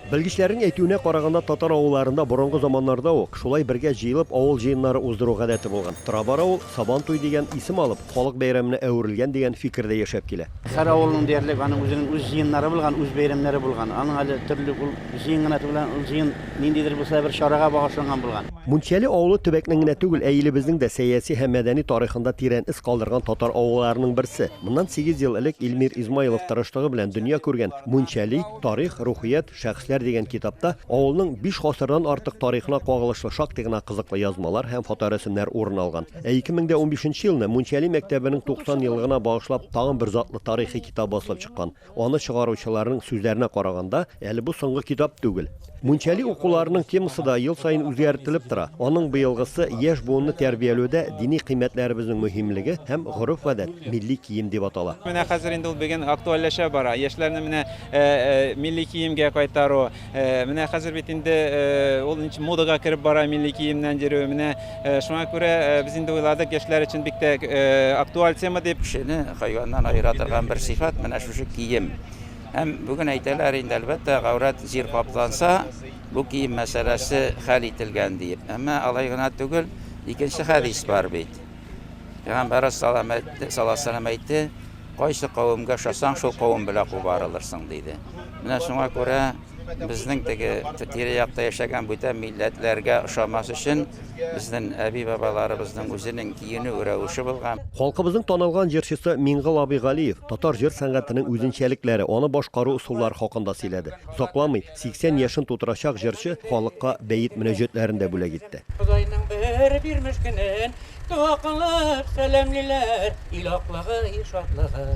Белгечләрнең әйтүенә караганда, татар авылларында борынгы заманнарда ук шулай бергә җыелып авыл җыеннары уздыру гадәте булган. Тора-бара ул, Сабантуй дигән исем алып, халык бәйрәменә әверелгән дигән фикер дә яшәп килә. Һәр авылның диярлек аның үзенең үз җыеннары булган, үз бәйрәмнәре булган. Аның әле төрле ул җыен гына түгел, ә ул җыен ниндидер булса да бер чарага багышланган булган. Мунчәле авылы төбәкнең генә түгел, ә илебезнең дә сәяси һәм мәдәни тарихында тирән эз калдырган татар авылларының берсе. Моннан сигез ел элек Илмир Измайлов тырышлыгы белән дөнья күргән Мунчәли, Тарих, рухият, шәхесләр дигән китапта авылның биш гасырдан артык тарихына кагылышлы шактый гына кызыклы язмалар һәм фоторәсемнәр урын алган. Ә 2015 елны Мунчәли мәктәбенең 90 еллыгына багышлап тагын бер затлы тарихи китап басылып чыккан. Аны чыгаручыларның сүзләренә караганда, әле бу соңгы китап түгел. Мунчали укуларының темасы да ел саен үзгәртелеп тора. Аның быелгысы яшь буынны тәрбияләүдә дини кыйммәтләребезнең мөһимлеге һәм гореф-гадәт, милли кием дип атала. Менә хәзер инде ул беген актуальләшә бара. Яшьләрне менә милли киемгә кайтару. Менә хәзер бит инде ул модага кереп бара милли киемнән йөрү. Менә шуңа күрә без инде уйладык, яшьләр өчен бик тә актуаль тема дип. Кешене хайваннан аера торган бер сыйфат, менә шушы кием. Һәм бүген әйтәләр инде, әлбәттә, гаурәт җир капланса, бу кием мәсьәләсе хәл ителгән диеп. Әмма алай гына түгел, икенче хәдис бар бит. Пәйгамбәр салам әйтте, саласалам әйтте, кайсы кавемгә ошасаң, шул кавем белән кубарылырсың, диде. Менә шуңа күрә безнең теге тирә-якта яшәгән бүтән милләтләргә ошамас өчен, Безнең әби-бабаларыбызның үзенең киенү рәвеше булган. Халкыбызның танылган җырчысы Миңгол абый Галиев татар җыр сәнгатенең үзенчәлекләре, аны башкару ысуллары хакында сөйләде. Озакламый 80 яшен тутырачак җырчы халыкка бәет мөнәҗәтләрен дә бүләк итте. Ходайның бер бирмеш көнен дога кылып сәламлиләр, ил аклыгы, ил шатлыгы,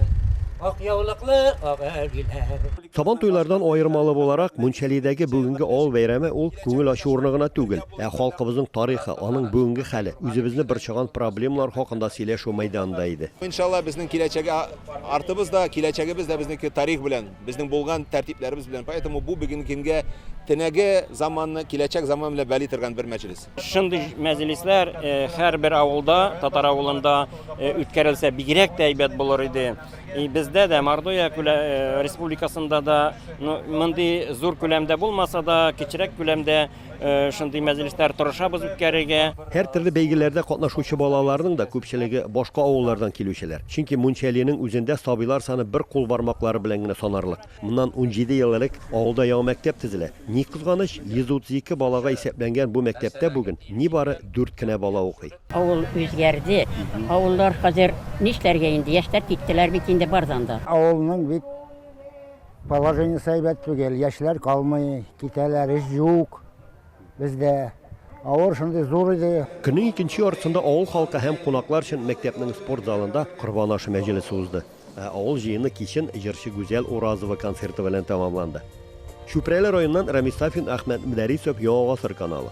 ак яулыклы ак әбиләр. Сабан туйлардан аермалы буларак, Мунчалидәге бүгенге авыл бәйрәме ул күңел ачу урыны гына түгел, ә халкыбызның тарихы, аның бүгенге хәле, үзебезне борчыган проблемалар хакында сөйләшү мәйданы да иде. Иншалла, безнең киләчәге артыбыз да, киләчәгебез дә безнеке тарих белән, безнең булган тәртипләребез белән. Поэтому бу бүгенге көнгә төнәге заманны киләчәк заман белән бәли торган бер мәҗлес. Шундый мәҗлесләр һәрбер авылда, татар авылында үткәрелсә, бигрәк тә әйбәт булыр иде. И бездә дә Мордовия республикасында да мондый зур күләмдә булмаса да, кечерәк күләмдә шундый мәҗлесләр тырышабыз үткәрергә. Һәр төрле бәйгеләрдә катнашучы балаларның да күпчелеге башка авыллардан килүчеләр. Чөнки Мунчалинең үзендә сабыйлар саны бер кул бармаклары белән генә санарлык. Моннан унҗиде ел элек авылда яңа мәктәп төзелә. Ни кызганыч, 132 балага исәпләнгән бу мәктәптә бүген нибары дүрт кенә бала укый. Авыл үзгәрде. Авыллар хәзер нишләргә инде, яшьләр киттеләр бит инде бардан да. Авылның бит положениесе әйбәт түгел, яшьләр калмый, китәләр, эш юк бездә. Авыр шундый зур иде. Көннең икенче яртысында авыл халкы һәм кунаклар өчен мәктәпнең спорт залында Корбан ашы мәҗлесе узды. Ә авыл җыены кичен җырчы Гүзәл Уразова концерты белән тәмамланды. Чүпрәле районыннан Рәмис Сафин, Әхмәт Мөдәрисов, Яңа гасыр каналы.